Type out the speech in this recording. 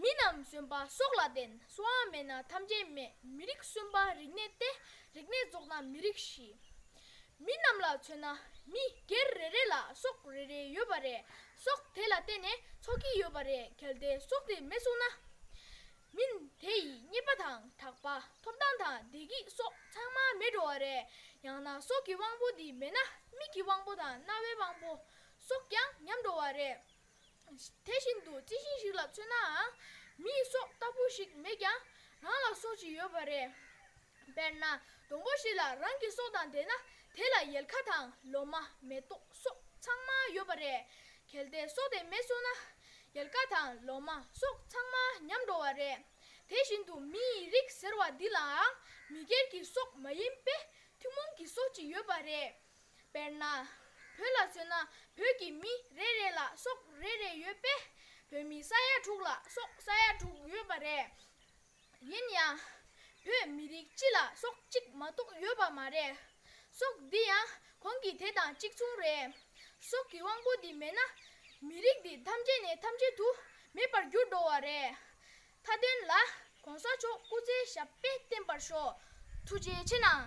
མི་རྣམས་གསོན་པ་སྲོག་ལ་བརྟེན་སྲོག་མེད་ན་ཐམས་ཅད་མེད་མི་རིགས་གསོན་པ་རིག་གནས་ཏེ་རིག་གནས་རྫོགས་ན་མི་རིགས་ཞི། མི་རྣམས་ལ་མཚོན་ན་མི་སྒེར་རེ་རེ་ལ་སྲོག་རེ་རེ་ཡོད་པ་རེད་སྲོག་དེ་ལ་བརྟེན་ནས་འཚོ་གི་ཡོད་པ་རེད་གལ་ཏེ་སྲོག་དེ་མེད་སོང་ན། མིན་དེ་ཡི་རྙེད་པ་དང་གྲགས་པ་ཐོབ་ཐང་དང་བདེ་སྐྱིད་སོགས་ཚང་མ་མེད་འགྲོ་བ་རེད་ཡང་ན་སྲོག་གི་དབང་པོ་འདི་མེད་ན་མིག་གི་དབང་པོ་དང་རྣ་བའི་དབང་པོ་སོགས་ཀྱང་ཉམས་འགྲོ་བ་རེད། དེ་བཞིན་དུ་རྩི་ཤིང་ཞིག་ལ་མཚོན་ནའང། མིའི་སྲོག་ལྟ་བུ་ཞིག་མེད་ཀྱང་རང་ལ་སྲོག་ཅིག་ཡོད་པ་རེད། དཔེར་ན་སྡོང་པོ་ཞིག་ལ་རང་གི་སྲོག་དང་ལྡན་ན་དེ་ལ་ཡལ་ག་དང་ལོ་མ་མེ་ཏོག་སོགས་ཚང་མ་ཡོད་པ་རེད། གལ་ཏེ་སྲོག་དེ་མེད་སོང་ན། ཡལ་ག་དང་ལོ་མ་སོགས་ཚང་མ་ཉམས་འགྲོ་བ་རེད། དེ་བཞིན་དུ་མི་ཡི་རིགས་ཟེར་བ་འདི་ལའང་མི་སྒེར་གྱི་སྲོག་མ་ཡིན་པས་ཐུན་མོང་གི་སྲོག་ཅིག་ཡོད་པ་རེད། དཔེར་ན། བོད་ལ་མཚོན་ན་བོད་ཀྱི་མི་རེ་རེ་ལ་སྲོག་རེ་རེ་ཡོད་པས། བོད་མི་ས་ཡ་དྲུག་ལ་སྲོག་ས་ཡ་དྲུག་ཡོད་པ་རེད། ཡིན་ཡང། བོད་མི་རིགས་སྤྱི་ལ་སྲོག་གཅིག་མ་གཏོགས་ཡོད་པ་མ་རེད། སྲོག་འདི་ཡང་གོང་གི་དེ་དང་གཅིག་མཚུངས་རེད། སྲོག་གི་དབང་པོ་འདི་མེད་ན། མི་རིགས་འདི་ཐམས་ཅད་ནས་ཐམས་ཅད་དུ་མེད་པར་འགྱུར་འགྲོ་བ་རེད། མཐའ་དོན་ལ ྋགོང་ས་མཆོག་སྐུ་ཚེ་ཞབས་པད་བརྟན་པར་ཤོག་ཐུགས་རྗེ་ཆེ་གནང།